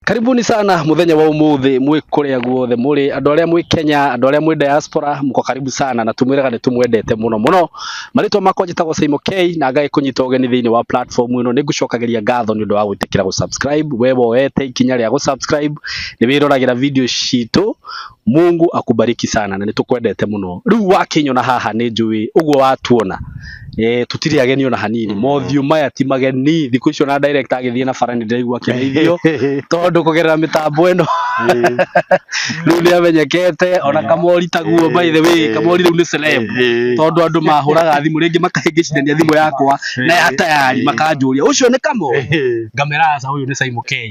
Karibuni sana muthenya wa umuthi mwĩ kũrĩa guothe mũrĩ andũ arĩa mwĩ Kenya andũ arĩa mwĩ diaspora muko karibu sana na tumwĩraga nĩ tumwendete muno muno marĩtwa makwa njĩtagwo Saimo K na ngaĩ kũnyita ũgeni thĩinĩ wa platform ĩno nĩ ngũcokagĩria ngatho nĩ ũndũ wa gwĩtĩkĩra gũ subscribe we woete ikinya rĩa gũ subscribe nĩ wĩroragĩra video citũ Mungu akubariki sana na nitukwendete muno riu wakinyona haha ni njui uguo watuona eh tutiri ageni ona hanini Mm. mothiu maya ti mageni thiku icio na direct agithie na bara ni ndiraigua kirithio tondu kugerera mitambo ino riu ni amenyekete ona kamori taguo by the way kamori riu ni celeb tondu andu mahuraga thimu ringi makahingicithania thimu yakwa na ya tayari makanjuria ucio ni kamo ngamera aca uyu ni Simon K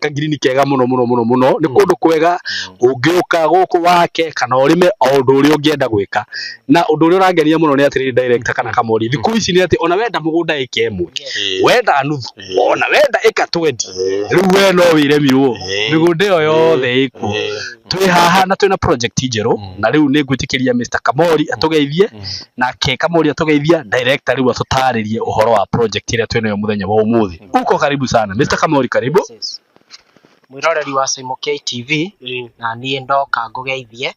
ka ngirini kega mũno mũno mũno mũno nĩ mm. kũndũ kwega mm. ũngĩũka gũkũ wake kana ũrĩme o ũndũ ũrĩa ũngĩenda gwĩka na ũndũ ũrĩa ũrangenia mũno nĩ atĩrĩrĩ director kana kamori thikũ mm. ici nĩ atĩ ona wenda mũgũnda ĩka ĩmwe wenda nuthu ona wenda ĩka twendi rĩu we no wĩremirwo mĩgũnda ĩyo yothe ĩkuo twĩ haha na twĩna project njerũ mm. na rĩu nĩ ngwĩtĩkĩria Mr Kamori mm. atũgeithie mm. nake Kamori atũgeithia director rĩu atũtarĩrie ũhoro wa project ĩrĩa twĩnayo mũthenya wa ũmũthĩ. Uko karibu sana. Mr. Kamori karibu. Yes. Mwiroreri wa Simo KTV na niĩ ndoka ngũgeithie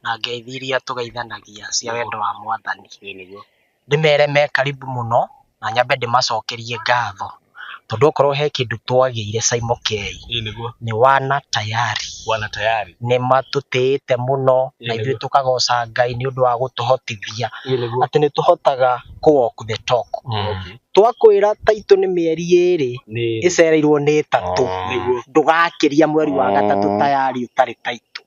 na ngeithi iria tũgeithanagia cia wendo wa mwathani. Ndĩmere me karibu mũno na nyambe ndĩmacokerie ngatho tondũ okorwo he kĩndũ twagĩire Simo K Ĩĩ nĩguo. nĩ wana tayari Wana tayari. nĩ matũtĩĩte mũno na Ĩĩ ithuĩ nĩguo. tũkagoca Ngai nĩ ũndũ wa gũtũhotithia Ĩĩ nĩguo. atĩ nĩ tũhotaga kũ walk the talk Okay. Twakwĩra taitũ nĩ mĩeri ĩrĩ ĩcereirwo nĩ ĩtatũ ndũgakĩria mweri wa gatatũ tayari ũtarĩ taitũ.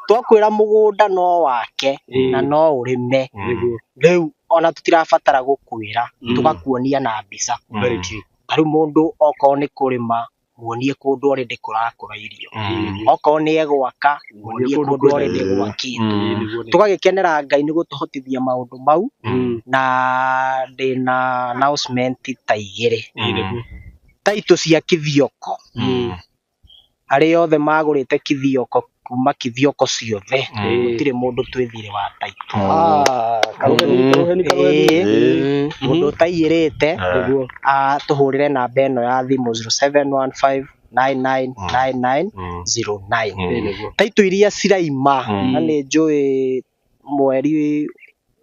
Twakwĩra mũgũnda no wake na no ũrĩme rĩu ona tũtirabatara gũkwĩra tũgakuonia na mbica. Ta rĩu mũndũ okorwo nĩ kũrĩma. muonie kũndũ already kũrakũra irio Mm. okorwo nĩ egwaka muonie kũndũ already Eh. gwakĩtwo Mm. tũgagĩkenera ngai nĩ gũtũhotithia maũndũ mau Mm. na ndĩna announcement ta igĩrĩ Mm. taitũ cia kithioko Mm. arĩa othe magũrĩte kithioko kuma kithiongo ciothe gutire mundu twithire wa taitũ Ĩĩ. mundu ũtaiyĩrĩte ah, tũhũrĩre namba ĩno ya thimũ 0715 999909 taitũ iria ciraima na nĩ njũĩ mweri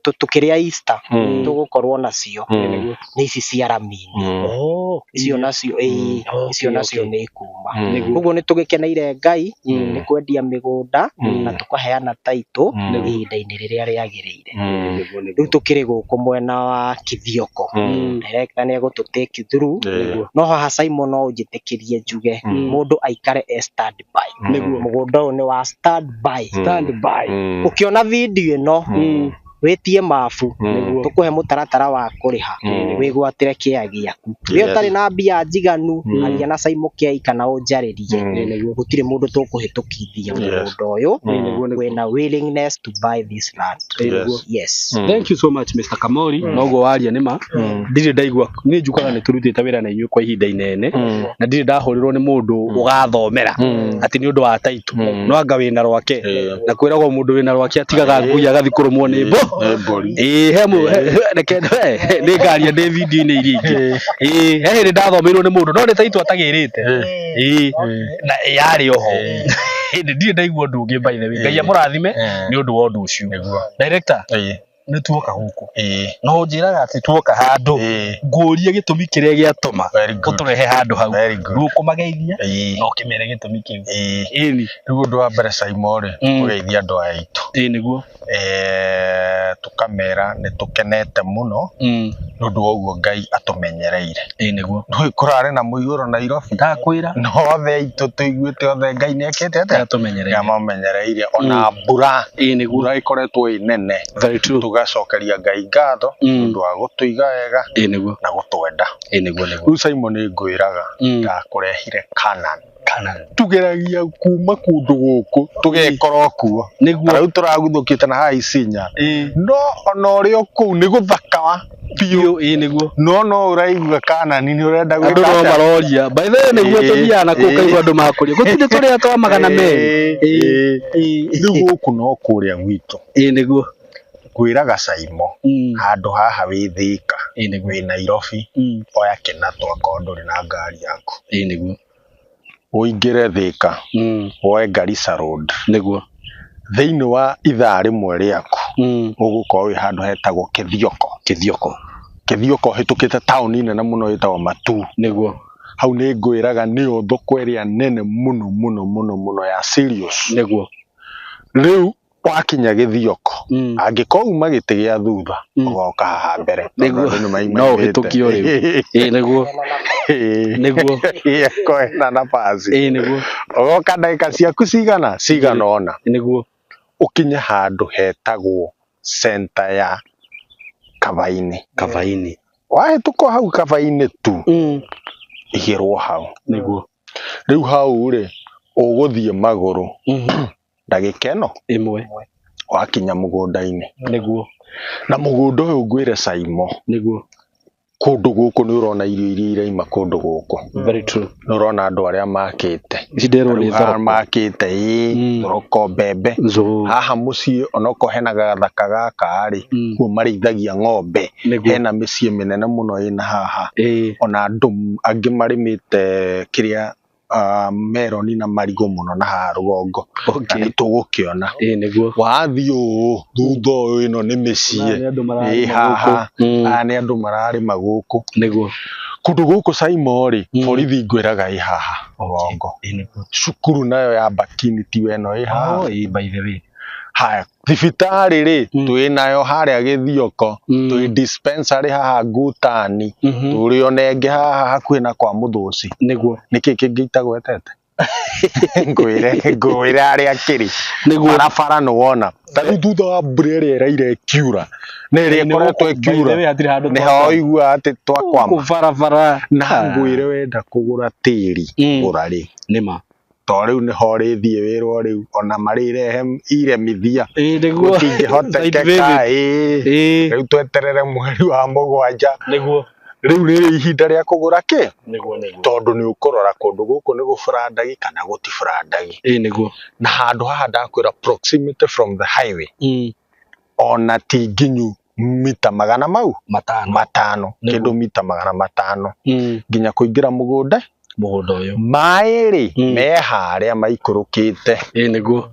tũ- tũkĩrĩa Easter Mm. tũgũkorwo nacio Mm. nĩ ici cia ramini Mm. Oh, icio nacio ĩĩ, Mm. Okay, icio nacio okay. nĩ ikuma Mm. Nĩguo. koguo nĩ tũgĩkeneire ngai Mm. nĩ kwendia mĩgũnda Mm. na tũkaheana taitũ Mm. ihinda-inĩ rĩrĩa rĩagĩrĩire Mm. Nĩguo, nĩguo. rĩu tũkĩrĩ gũkũ mwena wa kithioko Mm. director nĩ egũtũtĩki thuru Yeah. no haha Simon no ũnjĩtĩkĩrie njuge Mm. mũndũ aikare e stand by Nĩguo. mũgũnda ũyũ nĩ wa stand by Stand by. Mm. ũkĩona video ĩno Mm. wĩtie mabu Nĩguo. tũkũhe mũtaratara wa kũrĩha Mm. wĩgwatĩre kĩya gĩaku wĩ Yes. ũtarĩ na mbia njiganu Mm. aria na Simon Kiai kana ũnjarĩrie Mm. Nĩguo. gũtirĩ mũndũ tũkũhĩtũkithia Yes. mũgũnda ũyũ Mm. Nĩguo, nĩguo. wĩna willingness to buy this land Yes. yes Mm. Thank you so much Mr. Kamori. Noguo waria nĩ ma. Ndirĩ ndaigua niĩ njũkaga nĩ tũrutĩte wĩra na inyuĩ kwa ihinda inene Mm. na ndirĩ ndahũrĩrwo nĩ mũndũ ũgathomera Mm. atĩ nĩ ũndũ wa taitũ Mm. no anga wĩna rwake Eh. na kwĩragwo mũndũ wĩna rwake atigaga ngui agathiĩ kũrũmwo nĩ mbo Eh, mbũri. Ĩĩ, he mũ- he- he- reke he- he- nĩ ngaria ndĩ video-inĩ iria ingĩ Ĩĩ, he hĩndĩ ndathomeirwo nĩ mũndũ no nĩ taitũ atagĩrĩte Ĩĩ, na yarĩ oho hĩndĩ ndirĩ ndaigua ũndũ ũngĩ by the way ngai amũrathime Eh. nĩ ũndũ wa ũndũ ũcio Nĩguo. director Eh. nĩ tuoka gũkũ ĩĩ na ũnjĩraga atĩ tuoka handũ ĩĩ ngũrie gĩtũmi kĩrĩa gĩatũma very good ũtũrehe handũ hau very good ndũkũmageithia ĩĩ na ũkĩmere gĩtũmi kĩu ĩĩ ĩni rĩu ũndũ wa mbere Simon rĩ Mm. tũgeithia andũ aya aitũ ĩĩ nĩguo eh tũkamera nĩ tũkenete mũno nĩ ũndũ wa ũguo Ngai atũmenyereire ĩĩ nĩguo ndũĩ kũrarĩ na mũiyũro nairobi ndakwĩra na othe aitũ tũiguĩte othe ngai nĩ ekĩte atĩa ndatumenyereire nĩamamenyereire ona mbura ĩĩ nĩguo mbura ĩkoretwo ĩ nene very true tũgacokeria ngai ngatho Mm. ũndũ wa gũtũiga wega ĩĩ nĩguo na gũtwenda ĩĩ nĩguo nĩguo rĩu simon ngwĩraga Mm. ndakũrehire kanan kana tũgeragia kuma kũndũ gũkũ tũgekorwo kuo ta nĩguo rĩu tũraguthũkĩte na haha Isinya ĩĩ no ona ũrĩ o kũu nĩ gũthaka wa biũ biũ ĩĩ nĩguo no no ũraigua kanani nĩ ũrenda andå gwĩka no atĩa? maroria by the way nĩguo Ĩĩ, tũthiaga na kå ĩĩ. kaigua andå makåria gå tirä tå rä a twa magana merä Ĩĩ, ĩĩ. rĩu gũkũ no kũrĩa gwitũ ä nĩguo ngwĩraga caimo Mm. handũ haha wĩ thĩka Ĩĩ nĩguo. wĩ nairobi Mm. oya kĩna twakorwo ndũrĩ na ngari yaku Ĩĩ nĩguo. ũingĩre thĩka Mm. woe garisa road Nĩguo. thĩinĩ wa ithaa rĩmwe rĩaku Mm. ũgũkorwo wĩ handũ hetagwo kĩthioko Kĩthioko. kĩthioko ũhĩtũkĩte taũni nene mũno ĩtagwo matu Nĩguo. hau nĩ ngwĩraga nĩyo thoko ĩrĩa nene mũno mũno mũno mũno ya serious Nĩguo. rĩu wakinya gĩthioko Mm. angĩkorwo uma gĩtĩ gĩa thutha Mm. ũgoka haha mbere Nĩguo. Tondũ andũ nĩmaimaimĩte. No ũhĩtũkio rĩu. ĩĩ nĩguo Ĩĩ. nĩguo Ĩĩ, kwena na pasi ĩĩ nĩguo ũgoka ndagĩka ciaku cigana cigana ona nĩguo ũkinye handũ hetagwo centa ya kabainĩ kabainĩ wahĩtũka hau kabainĩ tu Mm. igĩrwo hau nĩguo rĩu hau rĩ ũgũthiĩ magũrũ Mhm. ndagĩka ĩno ĩmwe wakinya mũgũnda-inĩ nĩguo na mũgũnda ũyũ ngwĩre caimo nĩguo kũndũ gũkũ nĩ ũrona irio iria iraima kũndũ gũkũ very true nĩ ũrona andũ arĩa makĩte ici nderwo nĩ Rĩu haha thoroko makĩte ĩ Mm. thoroko mbembe Zuu. haha mũciĩ onoko hena gathaka gaka rĩ Mm. kuo marĩithagia ng'ombe Nĩguo. hena mĩciĩ mĩnene mũno ĩna haha ĩĩ ona andũ m- angĩ marĩmĩte kĩrĩa ah, meroni na marigũ mũno na haha rũgongo na Okay. nĩ tũgũkĩona Ĩĩ nĩguo. wathiĩ ũũ thutha ũyũ ĩno nĩ mĩciĩ Aya nĩ andũ mararĩma ĩ haha gũkũ. Mm. aya nĩ andũ mararĩma gũkũ Nĩguo. kũndũ gũkũ caimo rĩ Mm. borithi ngwĩraga ĩ haha rũgongo Ĩĩ nĩguo. cukuru nayo ya bakini tiwe ĩno ĩ haha Oh, ĩĩ by the way. haya thibitarĩ rĩ Mm. twĩ nayo harĩa gĩthioko Mm. twĩ dispensary haha ngutani Mhm. tũrĩ onenge haha hakuhĩ na kwa mũthũci nĩguo nĩkĩ kĩngĩ itagwetete ngwĩre ngwĩre arĩa akĩrĩ nĩguo barabara nĩwona ta rĩu thutha wa mbura ĩrĩa ĩraire ĩkiura na ĩrĩa ĩkoretwo ĩkiura hatirĩ handũ nĩ ha ũigua atĩ twakwama barabara na ngwĩre wenda kũgũra tĩri Mm. gũra rĩ nĩma to rĩu nĩho rĩthiĩ wĩrwo rĩu ona marĩrehe iremithia ĩĩ nĩguo gũtingĩhotekeka ĩĩ ĩĩ rĩu tweterere mweri wa mũgwanja nĩguo rĩu rĩrĩ ihinda rĩa kũgũra kĩ nĩguo nĩguo tondũ nĩ ũkũrora kũndũ gũkũ nĩ gũburandagi kana gũtiburandagi ĩĩ nĩguo na handũ haha ndakwĩra proximity from the highway Mm. ona ti nginyu mita magana mau matano matano Nĩguo. kĩndũ mita magana matano Mm, nginya kũingĩra mũgũnda mũgũnda ũyũ maĩ rĩ Mm. me harĩa maikũrũkĩte ĩ nĩguo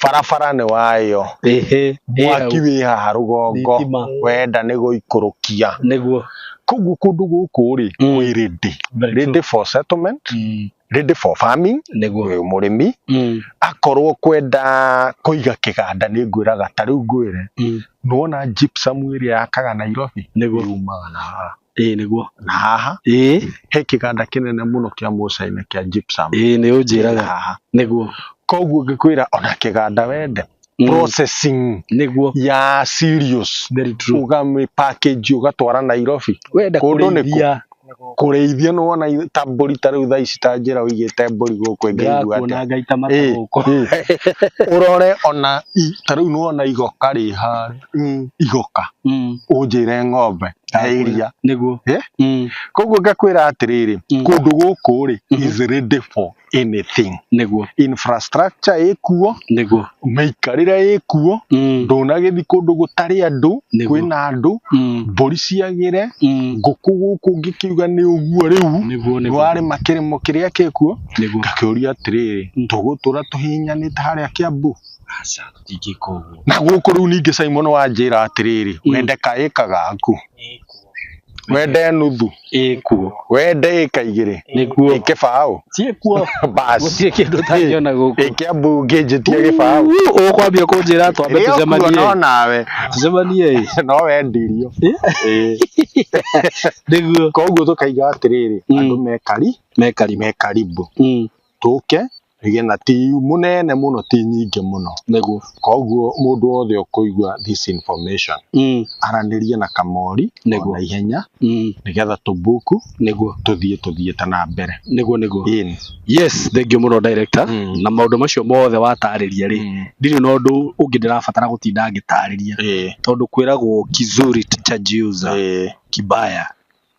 barabara nĩ wayo ĩhĩ mwaki wĩ haha rũgongo thitima wenda nĩ gũikũrũkia nĩguo koguo kũndũ gũkũ rĩ Mm. kwĩ rĩndĩ Very true. rĩndĩ for settlement Mm, ready for farming nĩguo ũyũ mũrĩmi Mm, akorwo kwenda kũiga kĩganda nĩ ngwĩraga ta rĩu ngwĩre mm, nĩwona gypsum ĩrĩa yakaga Nairobi nĩguo yumaga na haha ĩĩ nĩguo na haha ĩĩ he kĩganda kĩnene mũno kĩa Mũcaina kĩa gypsum ĩĩ nĩ ũnjĩraga haha nĩguo koguo ngĩkwĩra ona kĩganda wende Mm. processing nĩguo ya serious very true ũgamĩ package ũgatwara Nairobi wenda Kũndũ nĩ kũ? kũrĩithia kũrĩithia nĩ wona i- ta mbũri ta rĩu thaa ici ta njĩra ũigĩte mbũri gũkũ ĩngĩigua ndĩrakuona atĩa ngaita mata Ĩ, gũkũ ĩ. ũrore ona i- ta rĩu nĩ wona igoka rĩ harĩa igoka Mm, ũnjĩre ng'ombe ya iria nĩguo Eh? Mm, koguo ngakwĩra atĩrĩrĩ Mhm. kũndũ gũkũ rĩ Mhm. is ready for anything nĩguo infrastructure ĩkuo nĩguo mĩikarĩre ĩkuo Mm, ndũnagĩthi kũndũ gũtarĩ andũ Nĩguo. kwĩna andũ mm, mbũri ciagĩre mm, ngũkũ gũkũ ngĩkiuga nĩ ũguo rĩu nĩguo nĩguo warĩ makĩrĩmo kĩrĩa kĩkuo nĩguo ngakĩũria atĩrĩrĩ Mm. tũgũtũra tũhihinyanĩte harĩa kĩambu aca ingĩka ũguo na gũkũ rĩu ningĩ Simon wanjĩra atĩrĩrĩ Mm. wende kaĩ kagaku wende nuthu ĩkuo wende ĩka igĩrĩ nĩkuo kĩbaũ ciĩkuo basi gũtirĩ kĩndũ ũtangĩona gũkũ ĩkĩa mbunge njĩtie gĩbaũ Uu, ũkwambia kũnjĩra twambe Rĩo kuo no tũcemanie nawe tũcemanie ĩ. no wendirio Ĩĩ. nĩguo koguo tũkaiga atĩrĩrĩ Mm. andũ mekari mekari mekaribu Mm. tũke tũgĩe na TU mũnene mũno ti nyingĩ mũno. Nĩguo. Koguo mũndũ wothe ũkũigua this information Mm. aranĩrie na Kamori Nĩguo. na ihenya Mm. nĩgetha tũbuku Nĩguo. tũthiĩ tũthiĩte na mbere. Nĩguo nĩguo. Ĩni. Yes, thengiũ mũno director. Mm. Na maũndũ macio mothe watarĩria rĩ, Mm. ndirĩ na ũndũ ũngĩ ndĩrabatara gũtinda ngĩtarĩria. Ĩĩ. Tondũ kwĩragwo kizuri cha jiuza Ĩĩ. kibaya.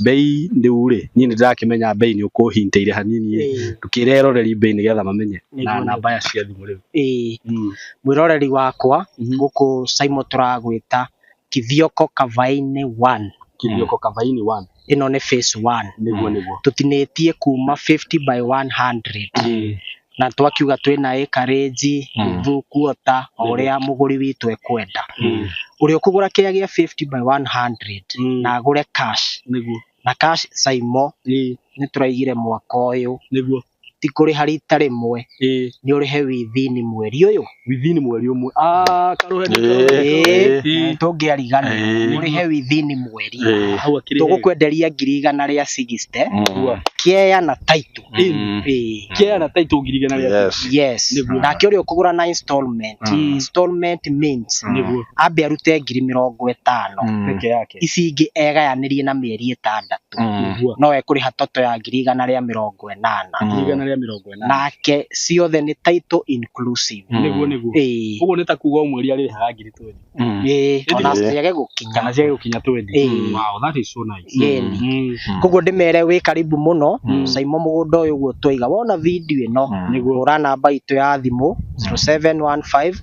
mbei ndĩu rĩ niĩ nĩ ndĩrakĩmenya mbei nĩ ũkũhintĩire hanini rĩ Ĩĩ, ndũkĩre eroreri mbei nĩgetha mamenye na Nĩguo, namba ya cia thimũ rĩu ĩĩ. Mm. mwĩroreri wakwa Mhm. gũkũ saimo tũragwĩta kithioko kavainĩ one kĩrioko kabaini one ĩno nĩ face one nĩguo nĩguo tũtinĩtie kuma 50 by 100 na twakiuga twĩna ĩkarĩnji Mm. through quarter o Mm. ũrĩa mũgũri witũ ekwenda Mm. ũrĩa ũkũgũra kĩrĩa gĩa 50 by 100 Mm. na agũre cash nĩguo na cash saimo ĩĩ nĩ tũraigire mwaka ũyũ nĩguo ti kũrĩha rita rĩmwe ĩĩ nĩ ũrĩhe withini mweri ũyũ within mweri umwe ah karuhe nĩ Ĩĩ. Ĩĩ. tũngĩarigana Ĩĩ. mũrĩhe within mweri Ĩĩ. hau akĩrĩ tũgũkwenderia ngiri igana rĩa 60 Mm. kĩea na taito Mm. Ĩĩ. kĩa na taito ngiri igana rĩa Yes. yes Nĩguo. nake ũrĩa ũkũgũra na installment Mm. installment means Mm. nĩguo ambe arute ngiri mĩrongo ĩtano Mm. peke yake ici ingĩ egayanĩrie na mĩeri ĩtandatũ Mm. nĩguo no ekũrĩha toto ya ngiri igana rĩa mĩrongo ĩnana Mm. igana rĩa mĩrongo nake ciothe nĩ title inclusive Mm. nĩguo nĩguo Ĩĩ, ũguo nĩ ta kuga o mweri arĩrĩhaga ngiri twendi Mm. ĩĩ, Ĩndĩ- ona ciage gũkinya kana ciage gũkinya twendi Ĩĩ. wow that is so nice Yeni. Mm. Mm. koguo ndĩmere wĩ karibu mũno Mm. caimo mũgũnda ũyũ guo twaiga wona video ĩno Mm. nĩguo hũra namba itũ ya thimũ 0715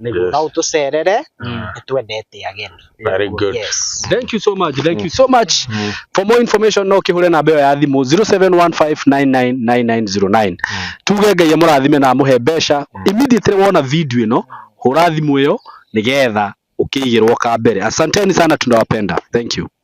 Yes. no ũtũcerere Mm. nĩ twendete ageni Very good. yes Thank you so much. Thank you so much. For more information no kihule namba ĩyo ya thimũ 0715999909. Tuge Ngai amũrathime na amũhe mbeca. Immediately wona video ĩno, hũra thimũ ĩyo nĩgetha ũkĩigĩrwo ka mbere. Asanteni sana tunawapenda. Thank you.